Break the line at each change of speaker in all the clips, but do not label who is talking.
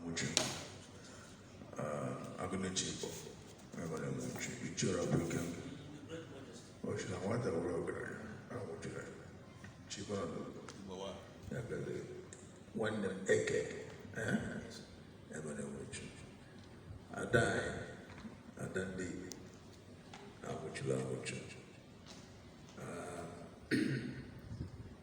Uche agụnechi Igbo enwere m uche ichera bụ ike ochi na nwata were ọgaranya anwụchiri chibana ya gale nwanne m eke enwere m uche ada anyị ada ndị Igbo anwụchiri anwụchi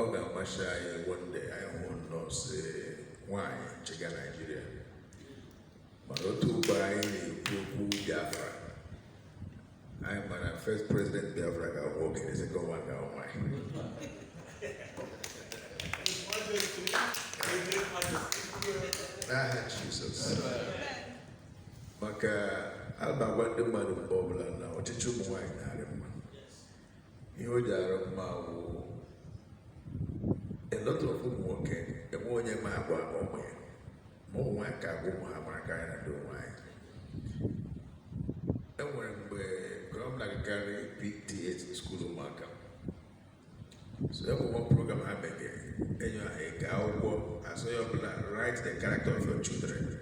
ọ ga-amasị anyị one day anyị hụ nnọọ si nwaanyị chịga naijiria mana otu ugbu a anyị na-ekwu okwu biafra anyị ma na first president biafra ga-awụ okenye second one ga-awụ nwaanyị n'aha jizọs maka a na-agwa ndị mmadụ mgbe ọbụla na ọchịchị ụmụ nwaanyị na-arị mma ihe o ji arị mma wụ a lot of ụmụ nwoke enwe onye ma agwa ụmụ ya ma ụmụ nwaanyị ka agwa ụmụ ha mara ka anyị na ndị ụmụ anyị e nwere mgbe ọ wụ m na-agakarị PTA skuul ụmụaka so e nwere program ha megere e nye ha eke akwụkwọ a sị onye ọbụla write the character of your children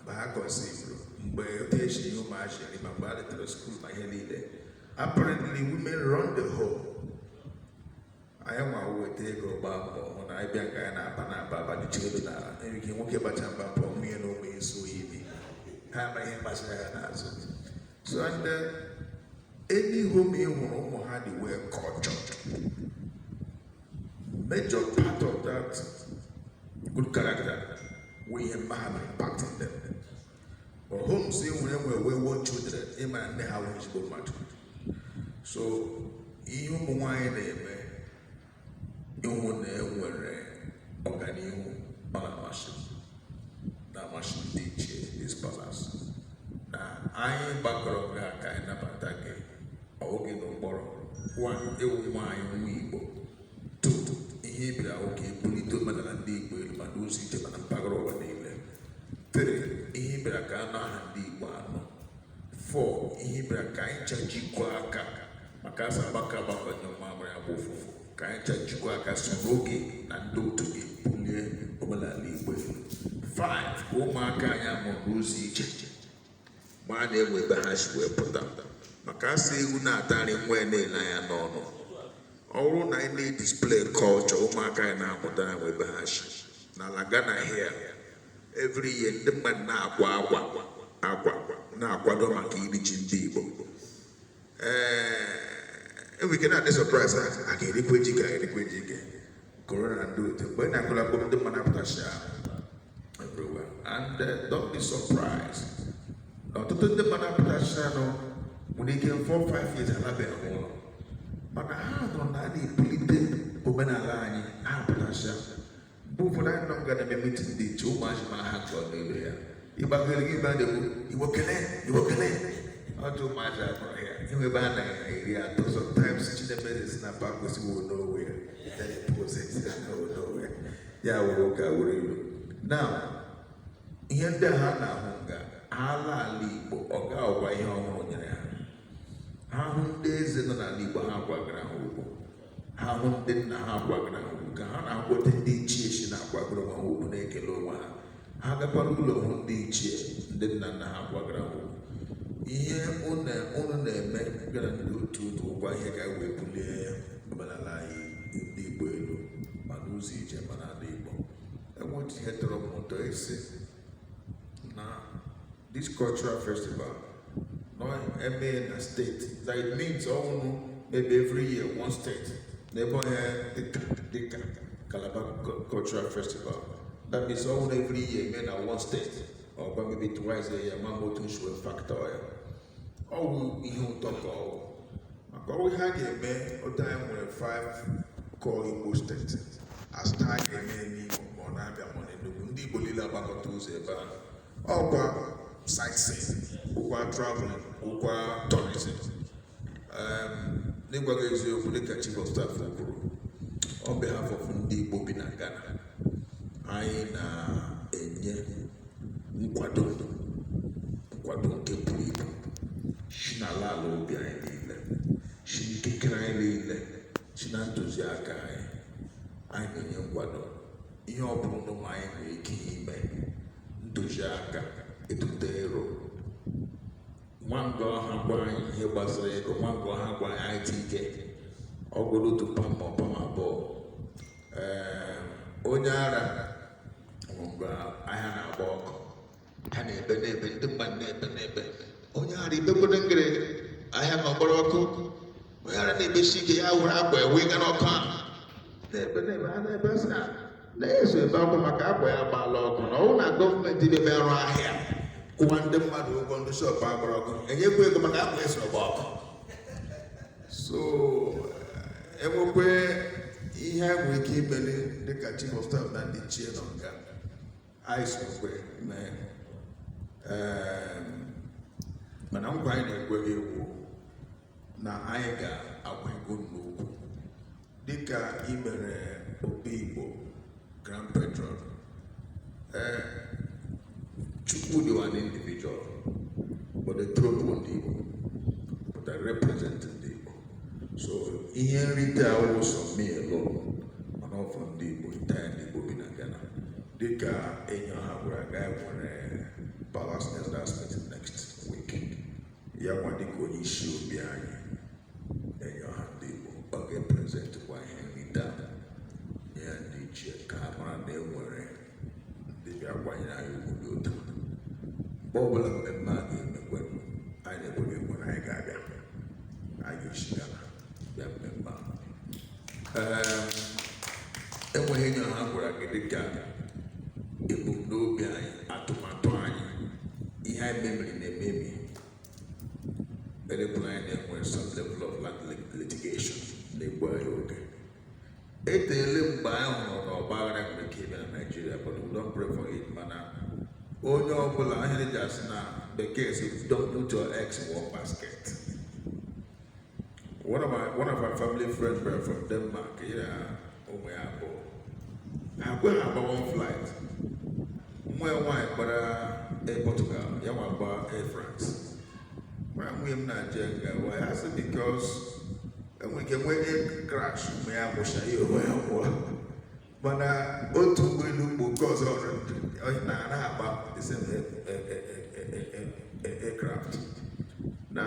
mgbe ha kọnsivuru mgbe otu esi ihe ụmụazị eri ma mgbe a letara skuul ma ihe niile apparently women run the home anyị nwa weta ego gbaa mbọ hụ na anyị bịa nke anyị na-aba na-aba abanyụchi elu n'ala enwere ike nwoke bacha mba pụọ nwunye na ụmụ isi oyi bi ha ama ihe gbasara ya n'azụ so and any home ị hụrụ ụmụ ha dị well cultured Major part of that good character wụ ihe mma ha mere part of them. But homes e nwere nwere wayward children ị ma na nne ha awụ ezigbo mmadụ. So ihe ụmụ nwaanyị na-eme ịhụ na e nwere ọganihu ọ na-amasị na-amasị ndị ichie this palace na anyị gbakọrọ gị aka ịnabata gị oge na ụkpọrọ wa ewu nwaanyị nwa igbo tutu ihe ị bịara wụ ka e bulite omenala ndị igbo elu ma n'ụzọ ije ma na mpaghara ụwa niile tere ihe ị bịara ka a nụ aha ndị igbo anọ fọ ihe ị bịara ka anyị cha jikọọ aka maka a sị agbakọọ agbakọọ nyụọ mmamịrị ya gbọọ ụfụfụ ka anyị cha jikọọ aka so na ọ gị na ndị otu gị bulie omenala igbo elu 5 ka ụmụaka anyị a mụrụ n'ụzọ ije maa na e nwe ebe ha si wee pụta maka a sị ewu na-ata nri nwa ya na-ele anya n'ọnụ ọ bụrụ na anyị na-edisplay culture ụmụaka anyị na-amụta na e nwe ebe ha si n'ala Ghana here every year ndị mmadụ na-akwa akwa akwa na-akwado maka iri ji ndị Igbo eh, enwere ike na-adị surprised a ga-erikwa ji ka erikwa ji ike corona na ndị otu mgbe na-akụla mkpụrụ ndị mmadụ apụtasịa everywhere and uh, don't be surprised na ọtụtụ ndị mmadụ apụtasịanụ nwere ike 4 5 years alabeghị ụlọ mana ha nụ na a na-ebulite omenala anyị ha apụtasịa mgbe ụfọdụ anyị nọ nga na-eme mitin dị iche ụmụazị ma ha chọọ n'elu ya ịgbagoro gị ebe a na-ekwu igbo kelee igbo kelee ọjọ ụmụazị akpọrọ ya enwe ebe a na-eri atọ sometimes chinemere si na pa gosiwo n'onwe ya then he pose it ya na n'onwe ya ya were ụka were ilu now ihe ndị a ha na-ahụ nga ala ala igbo ọ ga-abụkwa ihe ọhụrụ nyere ha ha hụ ndị eze nọ n'ala igbo ha kwagara ha ugwu ha hụ ndị nna ha kwagara ha ugwu ka ha na-ahụ otu ndị ichie si na-akwagara ha ugwu na-ekele onwe ha ha gakwara ụlọ hụ ndị ichie ndị nna nna ha kwagara ha ugwu ihe ụnụ na-eme gị na ndị otu ụnụ wụkwa ihe ga na-ebuli omenala anyị ndị Igbo elu ma n'ụzọ ije ma n'ala Igbo e nwere ihe tọrọ m ụtọ ị sị na this cultural festival ụnụ eme na state that it means ọ wụrụ maybe every year one state n'ebe onye dịka dịka Calabar Cu- cultural festival that means ọ wụrụ every year e mee na one state ọ gbaa maybe twice a year ma ma otu ụnụ si wee factor ya ọ bụ ihe ụtọ ka ọ bụ maka ọ wụ ihe a ga-eme otu a anyị nwere 5 core Igbo state a sị taa a ga-eme n'Imo ma ọ n'Abịa ma n'Enugu ndị Igbo niile agbakọta ụzọ ebe ahụ ọ wụkwa sightseeing ọ wụkwa traveling ọ wụkwa tourism n'ịgwa gị eziokwu dịka chief of staff kwuru on behalf of ndị Igbo bi na Ghana anyị na-enye nkwado nkwado nke buru ibu si n'ala ala obi anyị niile si n'ikikere anyị niile si na ntụziaka anyị anyị na-enye nkwado ihe ọ bụla ụnụ ma anyị nwere ike ime ntụziaka echiche aro ngwa ngwa a gwa anyị ihe gbasara ego ngwa ngwa a gwa anyị anyị tinye ọ wụrụ otu pam ma ọ pam abụọ onye ara mgbe ahịa na-agba ọkụ ha na-ebe na-ebe ndị mmadụ na-ebe na-ebe onye ara ibekwado ngere ahịa ma gbara ọkụ onye ara na-ebesi ike ya were akwa ya wụga n'ọkụ ahụ na-ebe na-ebe ha na-ebe sị na ya so ebe akwa maka akwa ya gbaala ọkụ na ọ wụ na gọọmenti na-eme arụ ahịa kwụwa ndị mmadụ ụgwọ ndị shọpụ ha gbara ọkụ e nyekwa ya ego maka akwa ya so gbaa ọkụ so enwekwe ihe a nwere ike imeli dịka chief of staff na ndị ichie nọ nga anyị sokwe mee mana nkwa anyị na-ekwe gị wụ na anyị ga-agwa ego n'okwu dịka i mere obi igbo grand patron ee chukwudi wụ an individual but the throne wụ ndị igbo but I represent ndị igbo so ihe nrite awụ sọ me alone mana ọ for ndị igbo entire ndị igbo bi na ghana dịka enyi ọha gwara gị e nwere palace elders meet next week ya nwa dịka onye isi obi anyị na enyi ọha ndị Igbo ọ ga-eprezentikwa ihe nrite a nye ya ndị ichie ka ha mara na e nwere ndị bịa kwanyere anyị ugwu dị otu a mgbe ọbụla mmemme a ga-eme nkwa anyị na-ekwe gị wụ na anyị ga-abịa anyị ga-esi Ghana bịa mmemme a Ee, e nwere ihe enyi ọha gwara gị dịka ebumnobi anyị atụmatụ anyị ihe anyị mebiri na-emebi elekwana anyị na-enwe some level of land litigation na-egbu anyị oge eteele mgbe anyị hụrụ na ọgba aghara nwere ike ime na naijiria but we don't pray for it mana onye ọbụla ihe e ji asị na bekee sị don't put your eggs in one basket One of my one of my family friends were from Denmark. Ya na ụmụ ya abụọ. Ha agaghị agba one flight. Nwa ya nwaanyị gbara Air Portugal, ya nwa gba Air France. Mụ na nwunye m na-ajụ ya why ya sị because enwere ike nwee air crash ụmụ ya gwụcha ya onwe ya gwụọ. mana otu ụgbọelu mgbe oke ọ sị na ha ara agba the same aircraft na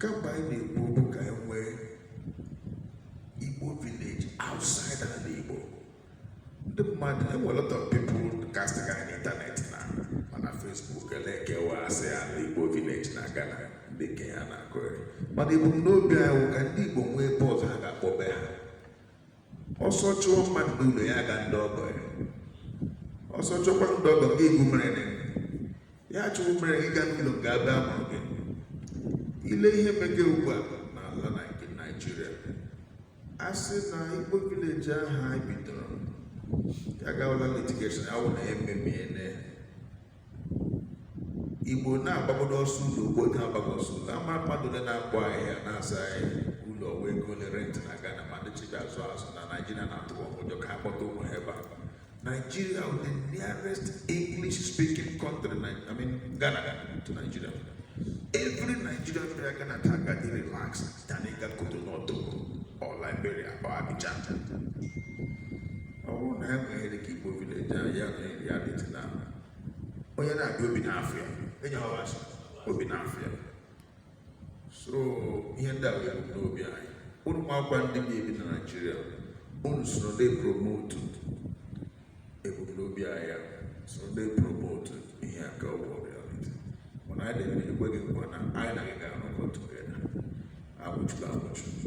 kemgbe anyị na-ekwu okwu ka anyị nwee Igbo village outside ala Igbo ndị mmadụ enwe lot of people casting anyị n'ịntanetị ma na Facebook elekewa asị ala Igbo village na Ghana ndị nke a na-akọ mana ebumnobi anyị wụ ka ndị Igbo nwee ebe ọzọ ha ga-akpọ be ha ọsọ chụọ mmadụ n'ụlọ ya ga ndị ọgọ ya ọsọ chụkwa ndị ọgọ gị egwu mere na ya chụrụ mere gị ga n'ụlọ nke ebe a mụrụ gị i lee ihe mege ugbu a n'ala naijiria a sị na igbo village ahụ anyị bidoro ya gawala litigation awụ na ememie na igbo na-agbagodo ọsọ ụlọ ugbo oge agbago ọsọ ụlọ ama mmadụ ole na-akpọ ahịa na-asị ụlọ ọ wụ ego ole rent na Ghana ma ndị business na Naijiria na-atụ ụjọ ka a kpọta ụmụ ha ebe a Nigeria bụ the nearest English speaking country I mean Ghana to Nigeria every Nigerian prefer Ghana to go dey relax than ịga Cotonou or Liberia or Abidjan ọ bụrụ na ha enweghị dị ka igbo village ahụ ya na reality na onye na-abịa obi n'afọ ya enye ha ọbasị obi n'afọ ya so ihe ndị a wụ ebumnobi anyị unu makwa ndị na-ebi na naijiria unu soro ndị promote ebumnobi anyị ya soro ndị promote ihe a ka ọ bụrụ reality mana anyị na-ekwe gị nkwa na anyị na gị ga-anọkọ together agwụchukwu agwụchukwu